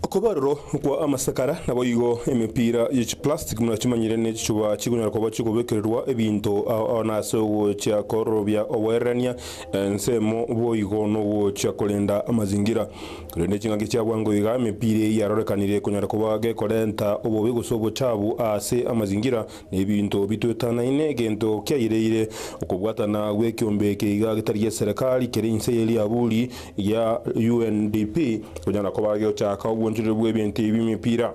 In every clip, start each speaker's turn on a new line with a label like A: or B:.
A: Okobarorwa okwa amasekara naboigo emepira ye chiplastic buna chimanyire ne chichuba chikonyara koba chikobekererwa ebinto ao ao nase ogochia kororobia oboererania ensemo boigo nogochia korenda amazingira. Korende chingaki chia bwango iga emepira eyio yarorekanire konyara koba gekorenta obobe gose obochabu ase amazingira Nebinto bitwetanaine, egento kiaireire, okobwatana gw'ekiombe eke iga getari gi'eserekari kere inse y'eriaburi gia UNDP konya na koba gegochaka obwonchoreria bw'ebinto ebi bw'emepira.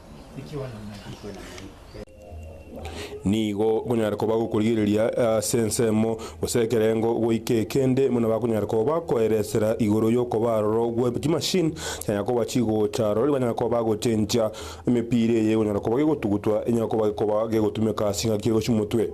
A: Nigo okonyara koba gokorigereria ase ensemo, gose ekerengo goika ekende, buna bakonyara koba bakoeresera igoro y'okoba aroro gwe chimashini chinyara koba chigocha aroro riria banyara koba bagochencha emepira eye egonyara koba gegotugutwa enyare koba gekoba gegotumeka ase engaki egochi omotwe.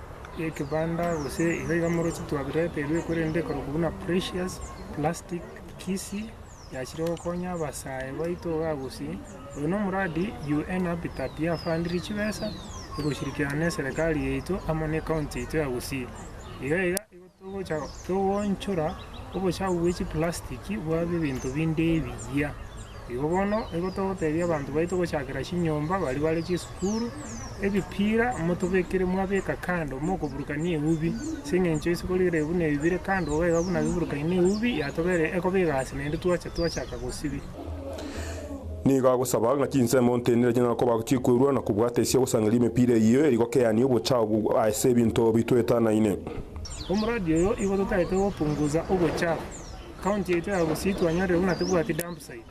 A: y'ekebanda gose iga iga moroche twabireterwe, korende ekorokwa buna Precious Plastic Kisii yachire gokonya abasae baito iga gosii. Oyo na omoradi UN Habitat yafandirie chibesa, egoshirikiana na eserekari yaito amo na ecounty yaito ya Gusii. Iga iga. Togocha koonchora obochafu bwe chiplastiki bwabe ebinto binde ebiya. Igo bono nigo togotebia abanto baito gochakera chinyomba, baria bare chisukuru, ebipira motobekere mwabeka kando mokoburukania eubi, ase eng'encho ase korigereria buna ebi bire kando iga buna biburukani na eubi yatobera ekoba egasi naende twacha twachaka gosibia. Nigo agosaba ng'a chinsemo ntenene chinyare koba chikwerua na kobwata ase ogosangereria emepira eyio eri gokeani obochao bwa ase ebinto bi twetanaine. Omoradi oyo igo totaete gopungusa obochao. County yaito ya Gusii twanyarire buna tebwati dumpsite.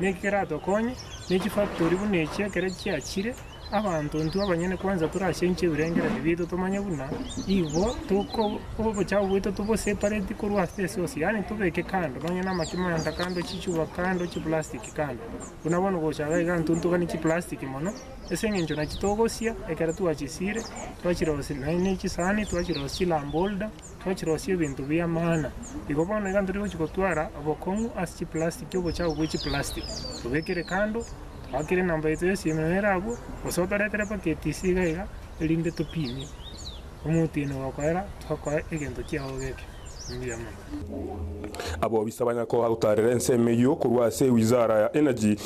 A: Niki keratokonye? Ne chifactory buna echio ekero chiachire, abanto intwe abanyene kwanza torachenchie ebirengererio biaito tomanye buna nigo toko obochafu bwaito tobosepareti korwa ase ase ose yaani tobeke kando nonye na amachimanda kando, chichupa kando, chiplastiki kando buna bono gochaka iga ntotokanie chiplastiki mono ase eng'encho nachio togosia ekero twachisiire, twachirosia nonye na echisani twachirosia chilambe holder. Twachirosia ebinto bi'amana. Igo bono iga ntari gochia gotwara obokong'u ase chiplastiki, obochafu bwe chiplastiki tobekere kando, toakere enamba yaito y'esiimero nere abwo, gose otoretere mpaka etisi iga iga erinde topinie. Omotienyi ogokoera tokoe egento kiago geke. Mbuya mono. Abobisa banyakogutaarera ensemo eyio korwa ase Wizara ya Energy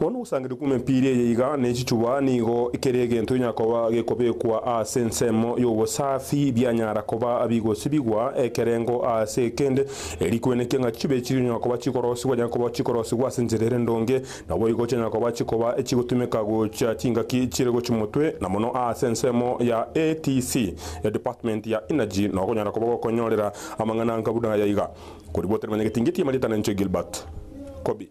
A: Bono ogosangereria kw'emepira eye iga ne chichuba nigo kere egento inyakoba gekobekwa ase ensemo y'obosafi bianyara koba bigosibigwa ekerengo ase ekende, eeri kwenekia ng'a chichuba echi chinyara koba chikorosigwa chinyara koba chikorosigwa ase enchera ere ndonge, naboigo chinyara koba chikoba chigotumeka gochia chingaki chire gochia motwe na mono ase ensemo ya ATC, Department ya Energy, na okonyara koba gokonyorera amang'ana nka buna aya iga, Koribwatera Manyageti Ngeti Emarita na Inche Gilbert Kobi.